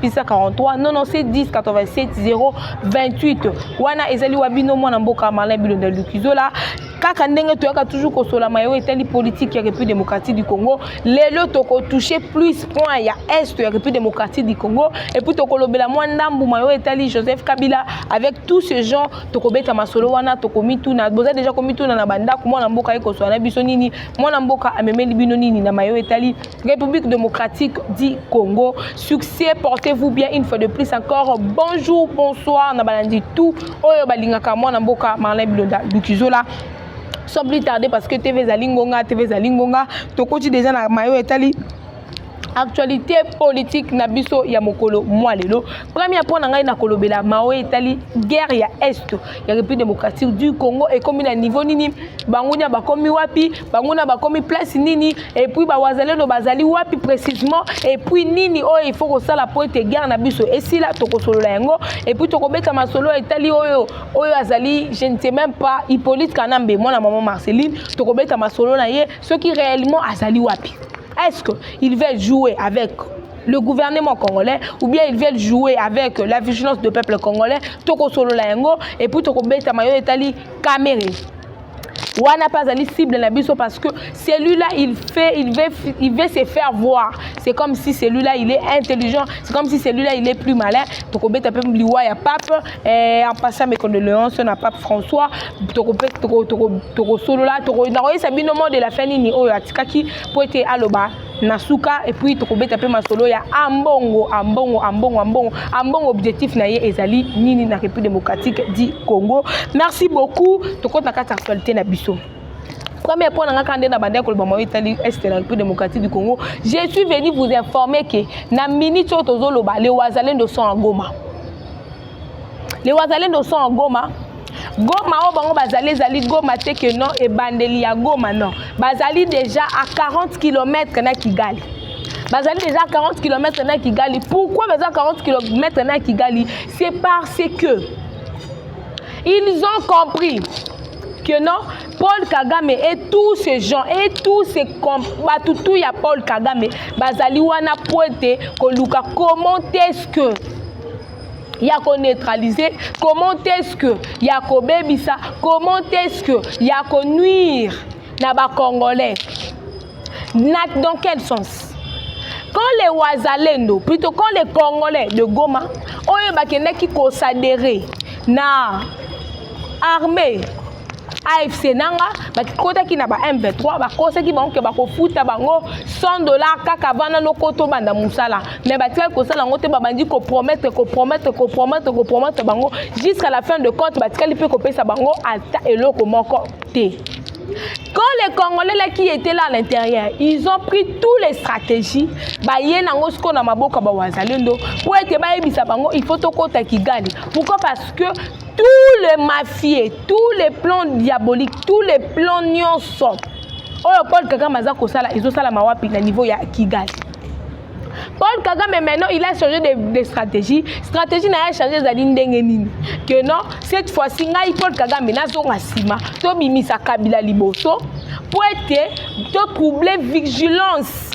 pisa 43 non non c'est 10 87 0 28 wana ezali wa bino mwana mboka malin bilonda lukizola kaka ndenge toyaka toujours kosolama yo etali politike ya république démocratique du congo lelo tokotouche plus point ya est ya république démocratique du congo epuis tokolobela mwa ndambu mayo etali joseph kabila avec tout ce genre tokobeta masolo wana tokomituna boza deja komituna na bandako mwana mboka ye koswana biso nini mwana mboka amemeli bino nini na mayo etali République démocratique du Congo. Succès, portez-vous bien une fois de plus encore. Bonjour, bonsoir, nabalandi tout. Oyo balingaka mwana mboka Marlin Bilonda Lukizola. Sans plus tarder parce que TV Zalingonga, TV Zalingonga, tokoti déjà na mayo etali actualité politique na biso ya mokolo mwa lelo premier mpo na ngai na kolobela mao etali guerre ya est ya république démocratique du congo ekomi na niveau nini bangunia bakomi wapi banguna bakomi place nini epuis bawazalendo bazali wapi précisement epuis nini oyo oh, ifo kosala mpo ete guerre na biso esila tokosolola yango epuis tokobeta masolo etali oyo oyo azali je ne sais même pas hippolyte kanambe mwana mama marceline tokobeta masolo na ye soki réellement azali wapi est ce que il va jouer avec le gouvernement congolais ou bien ils veulent jouer avec la vigilance du peuple congolais tokosolola yango epuis tokobetama yo etali kamere wana pe azali cible na biso parce que celui-là il fait il veut, il veut se faire voir c'est comme si celui-là il est intelligent c'est comme si celui-là il est plus malin tokobeta mpe liwa ya pape eh, en passant mes condoléances na pape françois tokosolola nakoyesa bino mot de la fin nini oyo atikaki mpo ete aloba na suka epuis tokobeta mpe masolo ya ambongo ambongo ambongo ambongo ambongo objectif na ye ezali nini na république démocratique du congo merci beaucoup tokota kati ya actualité na biso premier point nanga kande na bande koloba mayo etali est la république démocratique du congo je suis venu vous informer que na minute oyo tozoloba le wazalendo sont en goma Les Wazalendo sont en Goma. Goma oyo bango bazali ezali Goma te que non ebandeli ya Goma non. Bazali déjà à 40 km na Kigali. bazali déjà 40 km na Kigali. Pourquoi baza 40 km na Kigali C'est parce que ils ont compris que non Paul Kagame et tous ces gens et tous ces bato tout ya Paul Kagame bazali wana po ete koluka comment est-ce que ya ko neutraliser comment est-ce que ya kobebisa comment est-ce que ya ko nuire na ba congolais na dans quel sens quand les wazalendo plutôt quand les congolais de goma oyo bakendaki kosadere na armée AFC nanga bakikotaki na ba M23 bakosaki bango ke bakofuta bango 100 dollars kaka bana noko tobanda mosala mais batikaki kosala yango te babandi kopromettre kopromettre kopromettre kopromettre bango jusqu'à la fin de compte batikali mpe kopesa bango ata eloko moko te Quand les Congolais là qui étaient là à l'intérieur, ils ont pris toutes les stratégies. Baye nango siko na maboka ba wazalendo. Pour être bayebisa bango, il faut tokota Kigali. Pourquoi Parce que tout le mafie tout le plan diabolique tout le plan nyonso oyo paul kagame aza kosala ezosalama wapi na niveau ya kigali paul kagame maintenant il a changé de, de stratégie stratégie na ye change ezali ndenge nini que non cette fois ci ngai paul kagame nazonga nsima tobimisa kabila liboso mpo ete totrouble vigilance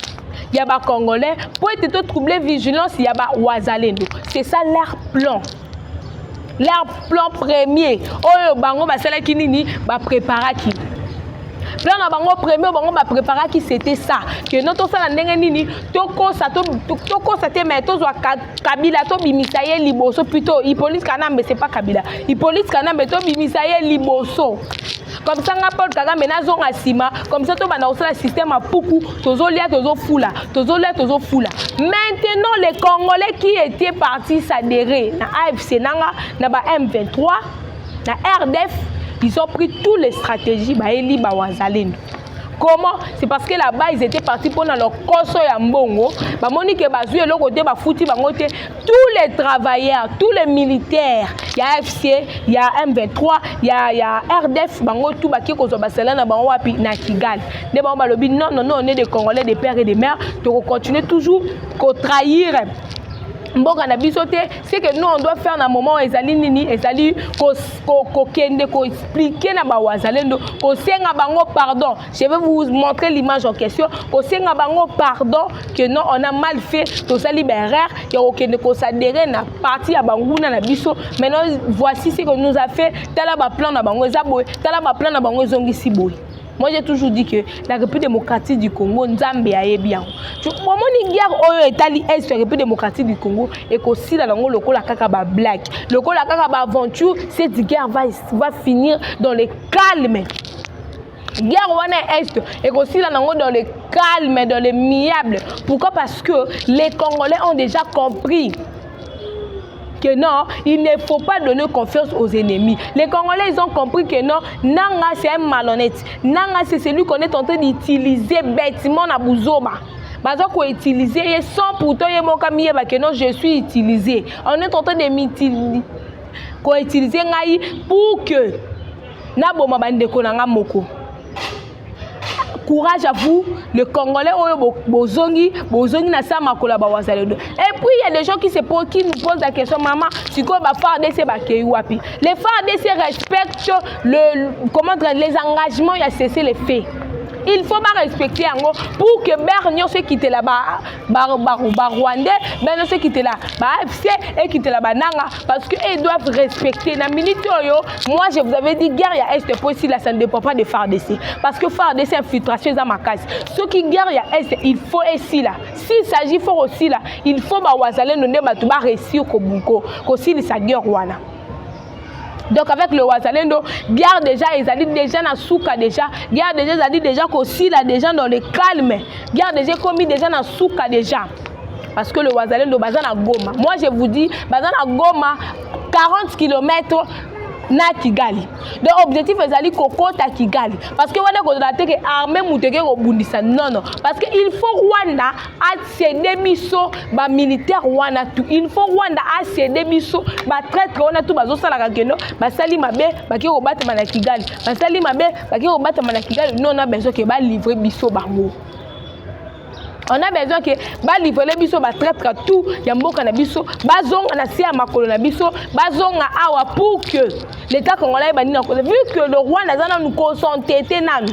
ya bacongolais mpo ete totrouble vigilance ya bawazalendo c'est ça leur plan leur plan premier oyo bango basalaki nini bapreparaki plan na bango premier bango bapreparaki c'était ça que no tosala ndenge nini tokosa tokosa te mai tozwa kabila tobimisa ye liboso plutôt hippolyte kanambe c'est pas kabila hippolyte kanambe tobimisa ye liboso comme ça nga Paul Kagame nazonga nsima comme ça tobanda kosala système ya puku tozolia tozofula tozolia tozofula maintenant les congolais qui étaient partis s'adhérer na afc nanga na ba m23 na rdf ils ont pris toutes les stratégies bayeli bawazalendo comment c'est parce que là-bas ils étaient partis pour leur cosso ya mbongo bamoni ke bazwi eloko te bafuti bango te tous les travailleurs tous les militaires ya fc ya m23 ya, ya rdf bango tout baki kozwa basala na bango wapi na kigali nde bango balobi non non non on est des congolais des pères et des mères tokocontinue toujours kotrahir mboka na biso te ce que nous on doit faire na moment ezali nini ezali kokende koexplike na bawazalendo kosenga bango pardon je vais vous montrer l'image en question kosenga bango pardon que non on a mal fait tozali baerreur ya kokende kosadere na parti ya banguna na biso maintenant voici ce que nous a fait tala baplan na bango eza boye tala baplan na bango ezongisi boye Moi j'ai toujours dit que la République démocratique du Congo Nzambe ayebi yango. Bomoni guerre oyo etali est ya République démocratique du Congo ekosila nango lokola kaka ba blague, lokola kaka ba aventure, cette guerre va, va finir dans le calme. guerre wana ya est ekosila nango dans le calme dans le miable pourquoi parce que les congolais ont déjà compris que non, il ne faut pas donner confiance aux ennemis. Les Congolais, ils ont compris que non, Nanga, c'est un malhonnête. Nanga, c'est celui qu'on est en train d'utiliser bêtement à Bouzoba. baza koutilize ye sans pourtant ye moko amiyeba que non je suis utilisé on est en train de koutilize ngai pour que naboma bandeko na ngai moko courage à vous le congolais oyo bozongi bozongi na sa makolo ya bawazalendo et puis il y a des gens qui se posent qui nous posent la question mama sikoyo ba fardc bakei wapi les fardc respectent le comment dire les engagements ya cessez les faits il faut barespecte yango pour que bere nyonso ekitela ba barwandais bino se ekitela baafc ekitela bananga parce que ils doivent respecter na minute oyo moi je vous avais dit guerre ya est po esila ça ne dépend pas de fardc parce que fardc infiltration eza makasi soki guerre ya est il faut esila s'il s'agit fo kosila il faut bawazalendo nde bato baresir kosilisa guerre wana donc avec le wazalendo guerre déjà ezali déjà na suka déjà guerre déjà ezali déjà kosila déjà dans le calme guerre déjà ekomi déjà na suka déjà parce que le wazalendo baza na goma moi je vous dis baza na goma 40 km na kigali donc objectif ezali kokota kigali parce que wana ekozala te ke armée moto eke kobundisa nono parce que il faut rwanda asede biso bamilitaire wana tu il faut rwanda asede biso batraitre wana tu bazosalaka keno basali mabe bake kobatama na kigali basali mabe bake kobatama na kigali no na besoin ke balivre biso bango on a besoin ke balivrele biso batraitre tout ya mboka na biso bazonga na se ya makolo na biso bazonga awa pour que l'état congolais ebandi na kola vu que le rwanda aza nanu consentete nanu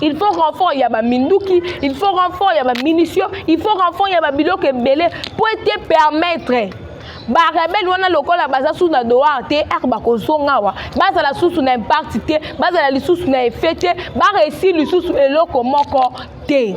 il faut renfort ya baminduki il faut renfort ya bamunition il faut renfort ya babiloko ebele mpo ete permettre barebele wana lokola baza susu na doar te eke bakozonga awa bazala susu na impakti te bazala lisusu na efe te baresir lisusu eloko moko te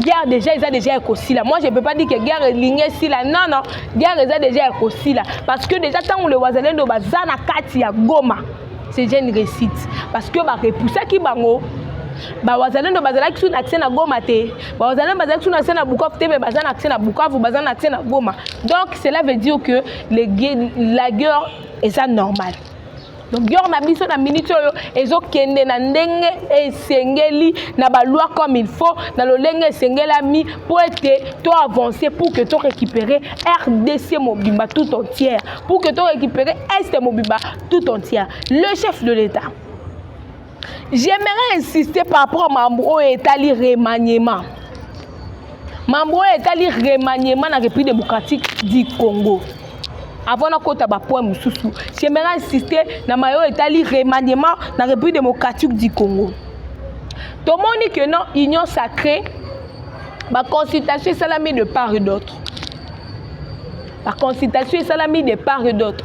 guerre déjà eza déjà ya kosila moi je peux pas dire que guerre elingi esila non non guerre eza déjà ya kosila parce que déjà ntango le wazalendo baza na kati ya goma c'est déjà une réussite parce que barepusaki bango bawazalendo bazalaki sous na accès na goma te bawazalendo bazalaki sous na accès na bukavu te mais baza na accès na bukavu baza na accès na goma donc cela veut dire que le, la guerre eza normale donc dior na biso na minute oyo ezokende na ndenge esengeli na baloi comme il faut na lolenge esengelami mpo ete to avance pour que to récupérer rdc mobimba tout entière pour que to récupérer est mobimba tout entière le chef de l'état j'aimerais insister par rapport à mambo oyo etali remaniement mambo oyo etali remaniement na république démocratique du congo avant nakota bapoint mosusu j'aimerais insister na maye oyo etali remaniement na république démocratique du congo tomoni que non union sacrée baconsultation esalami de part et d'autre baconsultation esalami de part et d'autre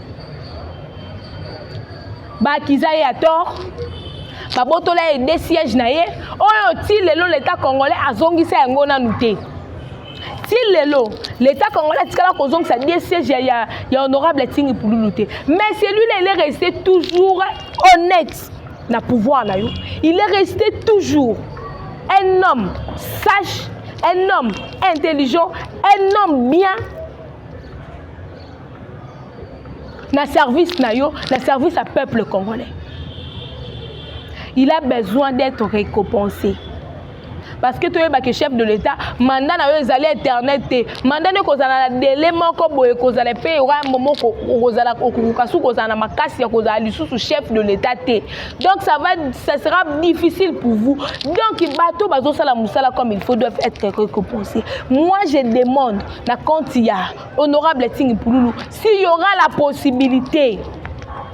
bakiza ye ya tort babotola ye de siège na ye oyo ti lelo leta congolais azongisa yango nanu te ti lelo leta congolais atikala kozongisa de siège ya, ya, ya honorable tingi pululu te mais celui là il est resté toujours honnête na pouvoir na yo il est resté toujours un homme sage un homme intelligent un homme bien na service na yo na service ya peuple congolais il a besoin d'être récompensé parce que toyeba ke chef de l'état mandat na yo ezali éternel te mandat nde kozala na dele moko boye kozala mpe yoka momo kozala okokoka su kozala na makasi ya kozala lisusu chef de l'état te donc ça va ça sera difficile pour vous donc bato bazosala mosala comme il faut doivent être récompensé moi je demande na compte ya Honorable Tingi Pululu, s'il y aura la possibilité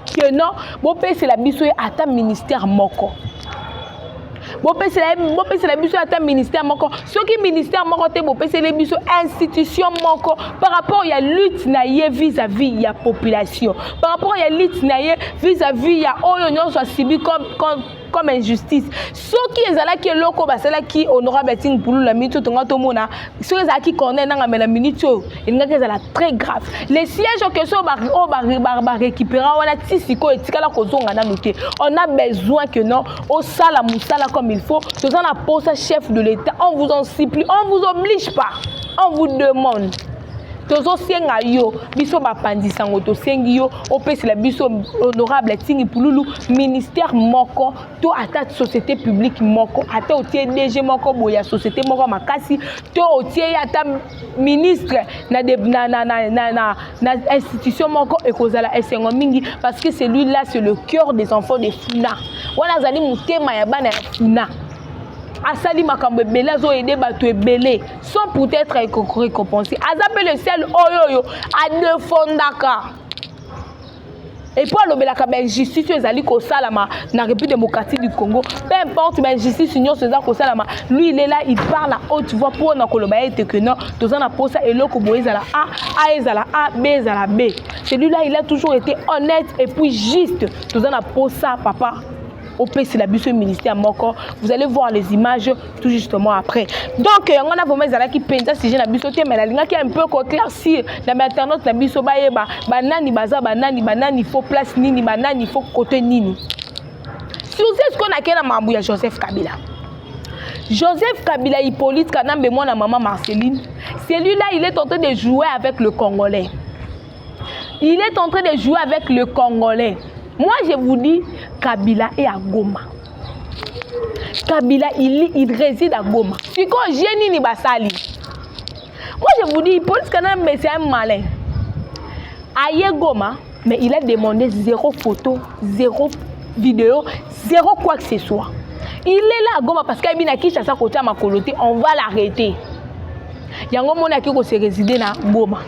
que non, bopesela biso ye ata ministère moko. bopesela bopesela biso ata ministère moko soki ministère moko te bopeseli biso institution moko par rapport ya lutte na ye vis-à-vis ya population par rapport ya lutte na ye vis-à-vis ya oyo nyonso asibi comme comme injustice soki ezalaki eloko basalaki honorable atine mpulu na minute oyo tonga tomona soki ezalaki cornel nanga me na minute oyo elingaki ezala très grave le siège en question oyo barécupéra wana ti sikoyo etikala kozonga nanu te on a besoin que non osala mosala comme il faut toza na posa chef de l'état on vous en supplie on vous oblige pas on vous demande tozosenga yo biso bapanzi sango tosengi yo opesela biso honorable tingi pululu ministère moko to ata société publique moko ata otie dg moko boye ya société moko ya makasi to otie ye ata ministre na, de, na, na, na, na, na, na institution moko ekozala esengo mingi parce que celui là c'est le cœur des enfants de funa wana azali motema ya bana ya funa asali makambo ebele azoyede bato ebele sans peut-être récompense aza mpe le sel oyo oyo adefondaka epuis alobelaka bainjustice oyo ezali kosalama na république démocratique du congo peu importe bainjustice nyonso eza kosalama lui il est là il parle à haute voix mpo na koloba ete que non toza na mposa eloko boye ezala a a ezala a b ezala b celui là il a toujours été honnête et puis juste toza na mposa papa opesela biso ministère moko vous allez voir les images tout justement après donc yango wana vraiment ezalaki mpenza sujet na biso te mais nalingaki un peu koclaircir na bainternaute na biso bayeba banani baza banani banani fo place nini banani fo kote nini suze sikoyo nakei na makambo ya joseph kabila Joseph Kabila Hippolyte Kanambe, moi, la maman Marceline, celui-là, il est en train de jouer avec le Congolais. Il est en train de jouer avec le Congolais. Moi, je vous dis, Kabila est à Goma. kabila il, il réside à goma sikoyo je nini basali moi je vous dis police kana mbese un malin aye goma mais il a demandé zéro photo zéro vidéo zéro quoi que ce soit il est là à goma parce qu'ayebi na kinshasa kotia makolo te on va l'arrêter yango moni ake kose réside na goma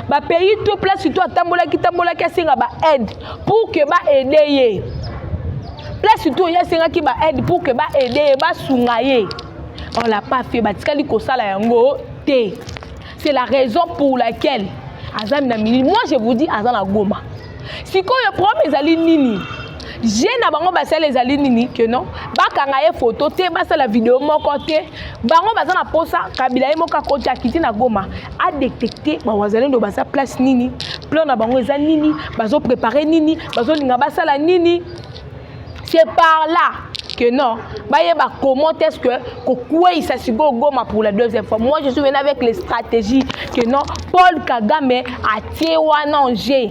bapays to place to atambolaki tambolaki asenga baaide pour que ba aide ye place tout ye asengaki ba aide pour que ba aide ye basunga ye on l'a pas fait batikali kosala yango te c'est la raison pour laquelle aza na minini moi je vous dis aza na goma sikoyo problème ezali nini je na bango basala ezali nini ke non bakanga ye foto te basala video moko te bango baza na mposa kabila ye moko akoti akiti na goma adetecte bawazalendo baza place nini plan na bango eza nini bazoprepare nini bazolinga basala nini c'est par là que non bayeba comment est ce que kokweyisa sikoyo goma pour la deuxième fois moi je suis venu avec les stratégies que non paul kagame atie wana en jeu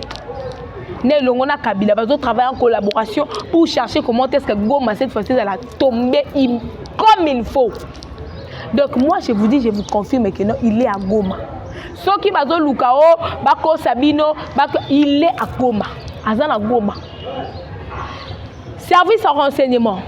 na elongo na kabila bazotravaille en collaboration pour chercher comment est ce que goma cette fois ci ezala tombe comme il faut Donc moi je vous dis, je vous confirme que non, il est à Goma. soki bazoluka o oh, bakosa bino il est à Goma aza na Goma service en renseignement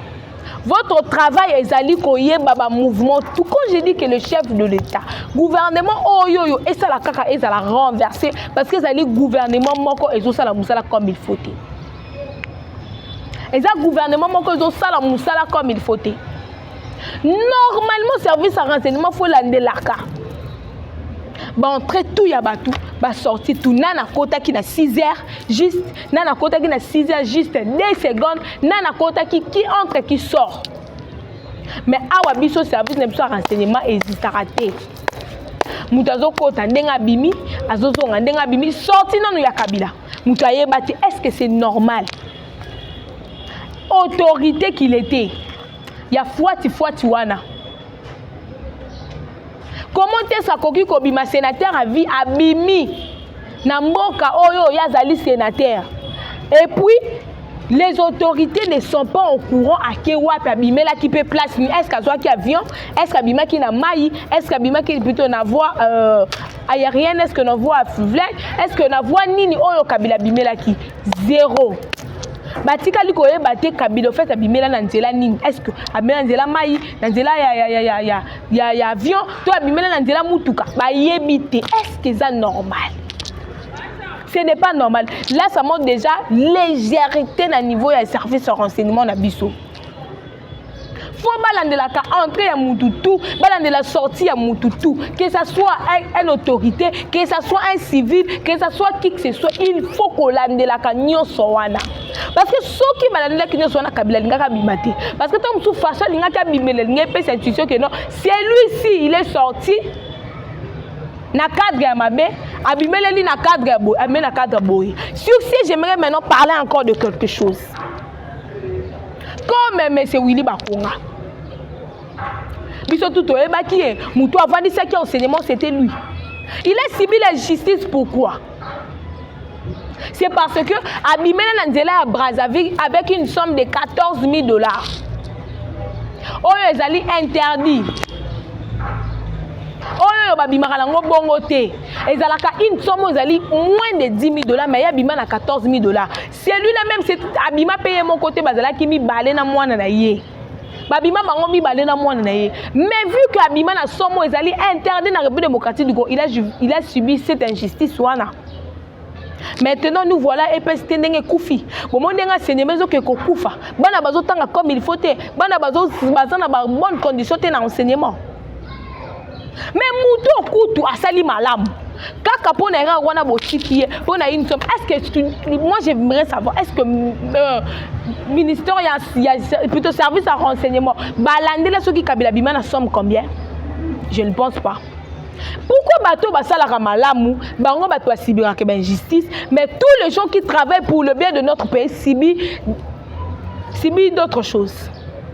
votre travail ezali koyeba bamouvement tout quand je dis que le chef de l'état gouvernement oyo oyo esala kaka ezala renversé parce que ezali gouvernement moko ezosala mosala comme il faut te eza gouvernement moko ezosala mosala comme il faut te normalement service ya renseignement fo elandelaka baentrée tout ya bato basorti tout na nakotaki na 6 heures juste na nakotaki na 6 heures juste 2 secondes na nakotaki qui entre qui sort mais awa biso service na biso ya renseignement ezitaka te moto azokota ndenge abimi azozonga ndenge abimi sorti nano ya kabila moto ayeba te est ce que c'est normal autorité qu'il était ya fuati fuati wana comment est-ce akoki kobima sénateur à vie abimi na mboka oyo ye azali sénateur et puis les autorités ne sont pas au courant ake wapi abimelaki mpe place ni est-ce azwaki avion est-ce qu'abimaki na mai est-ce qu'abimaki plutôt na voie euh, aérienne est-ce que na voie fluviale est-ce que na voie nini oyo kabila abimelaki zero batikali koyeba te kabila ofete abimela na nzela nini estce abimela na nzela mai na nzela ya, ya, ya, ya, ya, ya, ya avion to abimela na nzela motuka bayebi te estce eza normal ce n'est pas normal là ça montre déjà légèreté na niveau ya service ya renseignement na biso faut balandelaka entrée ya mutu tout balandela sortie ya mutu tout que ça soit un, un autorité que ça soit un civil que ça soit qui que ce soit il faut kolandelaka nyonso wana parce que soki balandelaki nyonso wana kabila alingaki abima te parce que ntango mosusu faso alingaki abimela alingi epesa intuition que non celui-ci il est sorti na cadre ya mabe abimeleli na cadre ya boye abimeli na cadre ya boye sur ce j'aimerais maintenant parler encore de quelque chose comme monsieur Willy Bakonga biso tu toyebaki ye motu avandisaki enseignement c'était lui il est subi la justice pourquoi c'est parce que abimela na nzela ya brazzaville avec une somme de 14 000 dollars oyo ezali interdit oyo babimaka nango bongo te ezalaka une somme oyo ezali moins de 10 000 dollars mais ye abima na 14 000 dollars celui là même c'est abima pe ye moko te bazalaki mibale na mwana na ye babima bango mibale na mwana na ye mais vu que abima na somo ezali interdit na république démocratique du congo il a, il a subi cette injustice wana maintenant nous voilà epesi te ndenge ekufi bomoni ndenge asenyema ezoke kokufa bana bazotanga comme il faut te bana baza na babonne condition te na enseignement me moto okutu asali malamu kaka mpo na erreur wana botiki ye mpo na une somme est ce que moi j'aimerais savoir est ce que euh, ministère ya, ya plutôt service ya renseignement balandela soki kabila bima na somme combien je ne pense pas pourquoi bato basalaka malamu bango bato basibiraka bainjustice mais tous les gens qui travaillent pour le bien de notre pays sibi sibi d'autres choses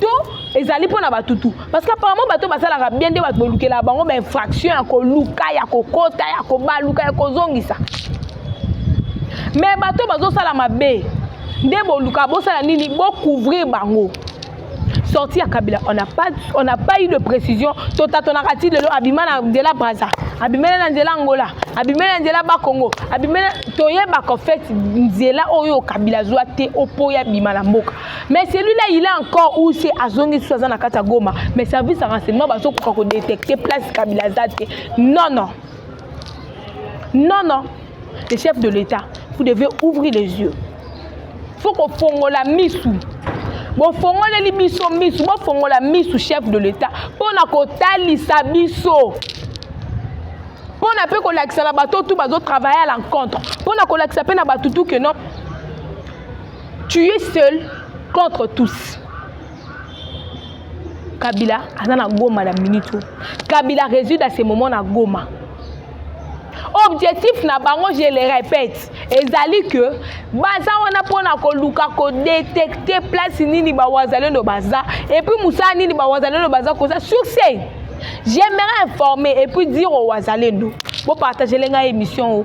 to ezali mpo na bato tu parce que apparemment bato basalaka bien nde bato bolukelaka bango bainfraction ya koluka ya kokota ya kobaluka ya kozongisa me bato bazosala mabe nde boluka bosala nini bocouvrir bango sorti ya kabila on n'a pas, on n'a pas eu de précision totatonaka ti lelo abima na nzela braza abimeli na nzela angola abimeli na nzela bakongo abimeli toyebaka fete nzela oyo kabila azwa te opo ye abima na mboka mais celui là il est encore où c'est azongi lisusu aza na kati ya goma mais service ya renseignement bazokoka kodetecte place kabila aza te non non non non le chef de l'état vous devez ouvrir les yeux faut kofongola misu bofongoleli biso misu bofongola misu chef de l'état mpo na kotalisa biso mpo na mpe kolakisa na bato tu bazotravaille à l'encontre mpo na kolakisa mpe na bato tu ke non tu es seul contre tous kabila aza na goma na minute oyo kabila résude à ce moment na goma objectif na bango je le répète ezali que baza wana mpona koluka kodetecte place nini bawazalendo baza epuis mosala nini bawazalendo baza koza succès j'aimerais informer epuis dire owazalendo bopartagele ngai émission o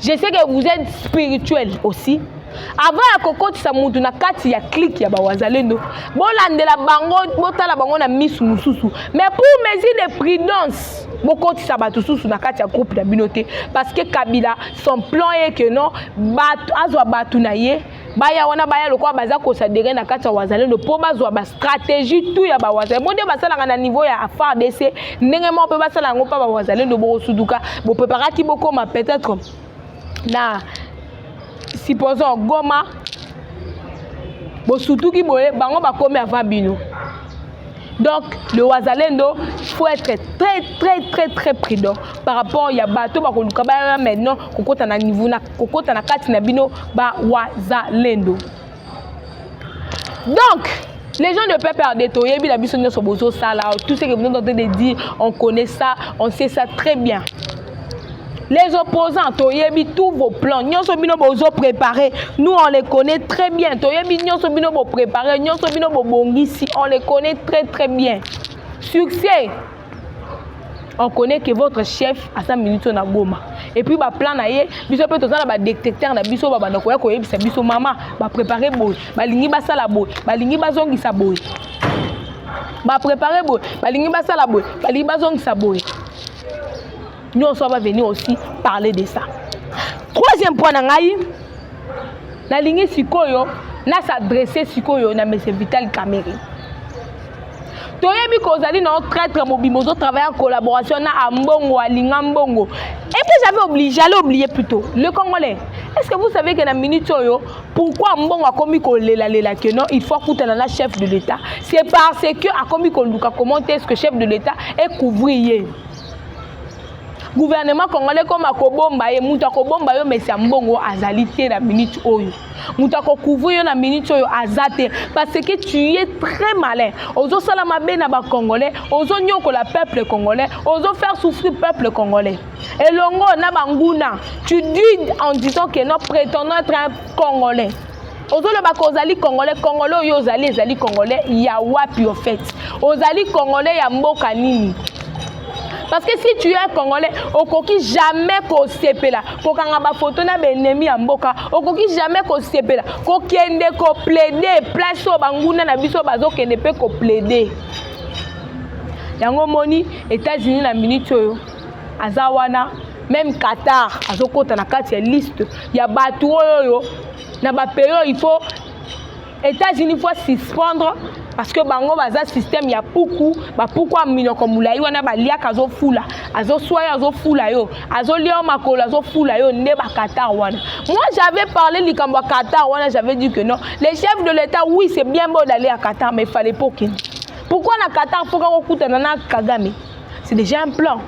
je sais que vous êtes spirituel aussi avant ya kokotisa mutu na kati ya clike ya bawazalendo bolandela bango botala bango na misu mosusu mais pour mesure de prudence bokotisa bato susu na kati ya groupe na bino te parce que kabila son plan ye que non azwa bato na ye baya wana baya lokola baza kosadere na kati ya wazalendo mpo bazwa bastratégie tu ya bawazalendo bo nde basalaka na niveau ya fardc ndenge moko mpe basala yango mpa bawazalendo bokosuduka bopreparaki bokoma peut-être na supposons goma bosutuki boye bango bakomi avant bino donc le wazalendo faut être très très très très prudent par rapport ya bato bakoluka baya maintenant kokota na niveau na kokota na kati na bino ba wazalendo donc les gens de PPRD toyebi na biso nyonso bozosala tout ce que vous êtes en train de dire on connaît ça on sait ça très bien les opposants toyebi tous vos plans nyonso bino bozo préparé nous on les connaît très bien toyebi nyonso bino bopréparé nyonso bino bobongisi on les connaît très très bien succès on connaît que votre chef aza minute oyo na goma epuis baplan na ye biso mpe toza na badetecteur na biso babanda koya koyebisa biso mama baprépare boye balingi basala boye balingi bazongisa boye baprépare boye balingi basala boye balingi bazongisa boye nyonso va venir aussi parler de ça troisième point na ngai nalingi sikoyo na s'adresse sikoyo na monsieur vital camere toyebi kozali na yo traitre mobimba ozo travaille en collaboration na ambongo alinga mbongo et puis j'avais oublié j'allais oublier plutôt le congolais est ce que vous savez que na minute oyo pourquoi mbongo akomi kolelalela que non il faut akutana na chef de l'état c'est parce que akomi koluka comment est ce que chef de l'état est couvrir ye gouvernement congolais ekoma kobomba ye moto akobomba yo mesi ya mbongo azali te na minute oyo moto akocouvrir yo na minute oyo aza te parce que tu es très malin ozosala mabe na bacongolais ozonyokola peuple congolais ozofaire souffrir peuple congolais elongo na banguna tu dis en disant que non prétendant être un congolais ozoloba ke ozali congolais congolais oyo ozali ezali congolais ya wapi au fait ozali congolais ya mboka nini parce que si tu es un congolais okoki jamais kosepela kokanga bafoto na baennemi ya mboka okoki jamais kosepela kokende koplaide place oyo banguna na biso bazokende mpe koplaide yango omoni etats-unis na minute oyo aza wana meme qatar azokota na kati ya liste ya bato oyo oyo na bapeyo il faut états-unis faut suspendre parce que bango baza système ya puku bapuku ya minoko molai wana baliaka azofula azoswa yo azofula yo azolia yo makolo azofula yo nde bakatar wana moi j'avais parlé likambo ya qatar wana j'avais dit que non les chefs de l'état oui c'est bien beau d'aller à qatar mais fallait pas okende pourquoi na qatar mpoka kokutana na kagame c'est déjà un plan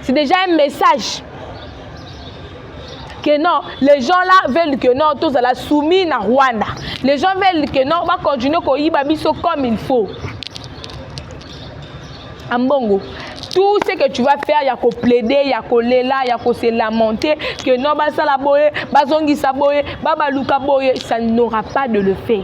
c'est déjà un message que non les gens là veulent que non tozala soumis na rwanda les gens veulent que non bacontinue koyiba biso comme il faut ambongo tout ce que tu vas faire ya koplaide ya kolela ya kose lamenter que non basala boye bazongisa boye babaluka boye ça n'aura pas de le fait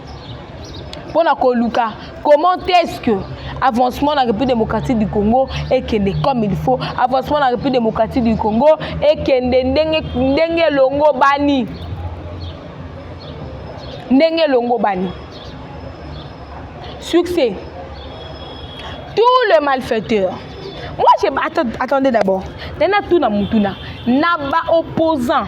mpo na koluka comment est-ce que avancement na république démocratique du congo ekende comme il faut avancement na république démocratique du congo ekende ndenge ndenge elongobani ndenge elongobani succès tout le malfaiteur moi je attendez d'abord nana tuna mutuna na baopposant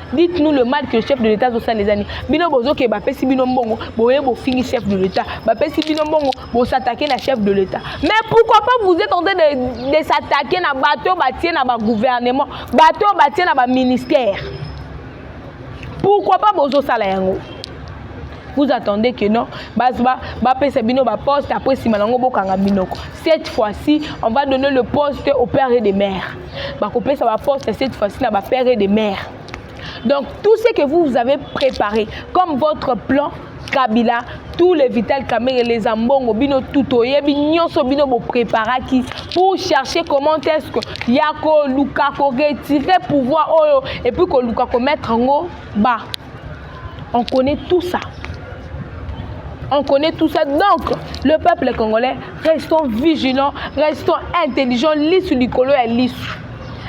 dites nous le mal que le chef de l'état azosala eza nini bino bozoke bapesi bino mbongo boye bofingi chef de l'état bapesi bino mbongo bosatake na chef de l'état mais pourquoi pas vous êtes en train de, de s'attaquer na bato oyo batie na bagouvernement bato oyo batie na baministère pourquoi pas bozosala yango vous attendez que non bapesa bino baposte après nsima na yango bokanga minoko cette fois-ci on va donner le poste au père et de mère bakopesa baposte cette fois-ci na bapère et de mère donc tout ce que vous, vous avez préparé comme votre plan kabila tous les vital kamere les ambongo bino tout oyebi nyonso bino bopreparaki pour chercher comment est ce que ya koluka koretire pouvoir oyo epuis koluka komettre yango ba On connaît tout ça. On connaît tout ça. Donc, le peuple congolais, restons vigilants, restons intelligents, lisu likolo ya lisu.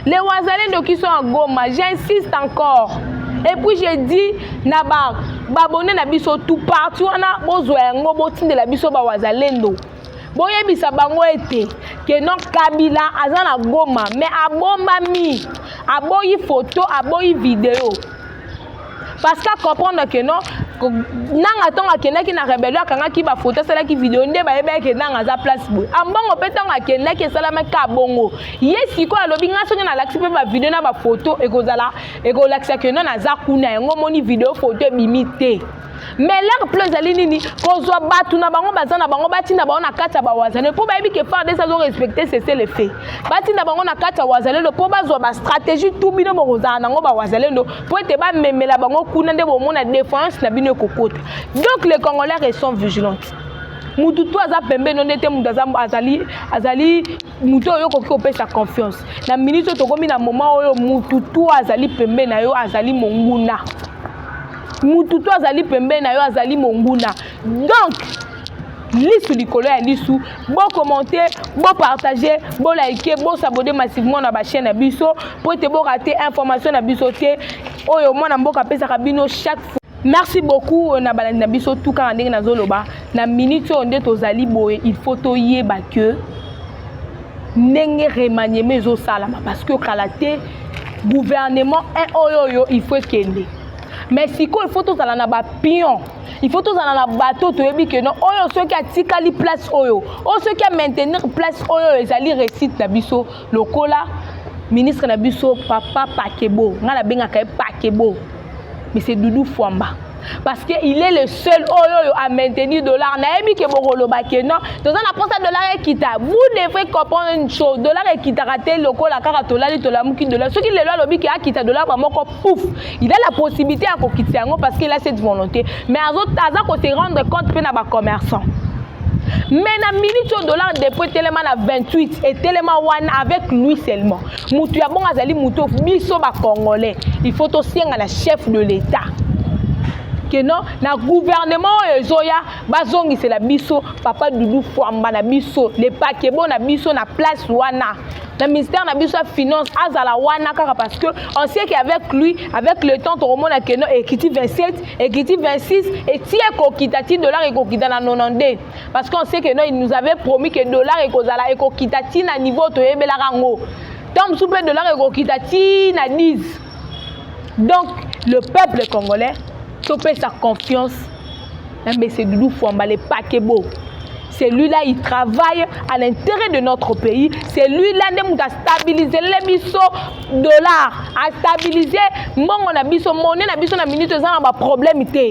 Les Wazalendo qui sont à Goma, j'insiste encore. Et puis j'ai dit, na ba babone na biso tout partout wana bozwa yango botindela biso ba Wazalendo. boyebisa bango ete ke non kabila aza na goma me abombami aboyi foto aboyi video parce que acomprendre que non nanga ntango akendaki na rebelio akangaki bafoto asalaki video nde bayebaki ke nanga aza place boye ambongo mpe ntango akendaki esalamaki ka bongo ye sikoyo alobi ngai soki nalakisi mpe bavideo na bafoto ekozala ekolakisa ke non aza kuna yango omoni video foto ebimi te mais leur plan ezali nini kozwa bato na bango baza na bango batinda bango na kati ya bawazalelo mpo bayebi ke fardes azo respecte sese le fait batinda bango na kati ya wazalelo mpo bazwa bastratégie tu bino bokozala nango bawazalelo mpo ete bamemela bango kuna nde bomona défense na bino ekokota donc les congolais sont vigilantes motu tu aza pembeni nde te motu azali azali moto oyo okoki kopesa confiance na minute oyo tokomi na moment oyo mutu to azali pembe na yo azali monguna mutu to azali pembe na yo azali monguna donc lisu likolo ya lisu bokommente bopartage bolike bosabode massivement na bachaine na biso mpo ete borate information na biso te oyo mwana mboka apesaka bino chaque fois merci beaucoup na balandi na biso tout kaka ndenge nazoloba na minute oyo nde tozali boye il faut toyeba que ndenge remaniement ezosalama parce que kala te gouvernement un oyo oyo il faut ekende mais sikoyo il faut tozala na bapion il faut tozala na bato toyebi ke non oyo soki atikali place oyo oyo soki amaintenir place oyo oyo ezali réussite na biso lokola ministre na biso papa pakebo ngai nabengaka ye pakebo mais c'est doudou fwamba parce que il est le seul oyo oyo a maintenir dollar nayebi ke bokoloba ke non toza na mposa dollar ekita vous devrez comprendre une chose dollar ekitaka te lokola kaka tolali tolamuki dollar soki lelo alobi ke akita dollar bamoko pouf il a la possibilité ya kokitisa yango parce qu'il a cette volonté mais aza ko se rendre compte mpe na bacommerçant mais na minute oyo dollar dépôt etelema na 28 etelema wana avec lui seulement motu ya bongo azali motu oyo biso bacongolais il faut tosenga na chef de l'état que non na gouvernement oyo ezoya bazongisela biso papa dudu fwamba na biso le pakebo na biso na place wana na ministère na biso ya finance azala wana kaka parce que on sait que avec lui avec le temps tokomona keno ekiti 27 ekiti 26 eti ekokita ti dollar ekokita na 92 parce qu'on sait que no il nous avait promis que dollar ekozala ekokita ti na niveau toyebelaka yango ntango mosusu mpe dollar ekokita ti na 10 donc le peuple congolais topesa confiance na mbese dudu fwamba le pakebo celui-là il travaille à l'intérêt de notre pays celui-là nde moto astabilizele biso dollar astabilize mbongo na biso mone na biso na minute eza na baproblème te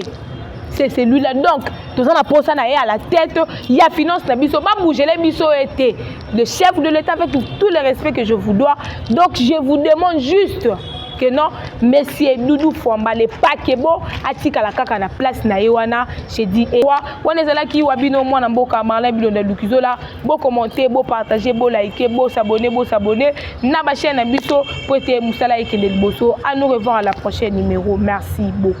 c'est celui-là donc toza na mposa na ye à la tête ya finance na biso babougele biso ye te Le chef de l'État, avec tout le respect que je vous dois, donc je vous demande juste que non monsieur doudou fwamba le pakebo atikala kaka na place na ye wana j'ai dit ewa eh, wana ezalaki wa bino mwana mboka marlin bilonda lukizola bokommente bopartage bolike bosabone bosabone na bachaine na biso mpo ete mosala ekende liboso à nous revoir à la prochaine numéro merci beaucoup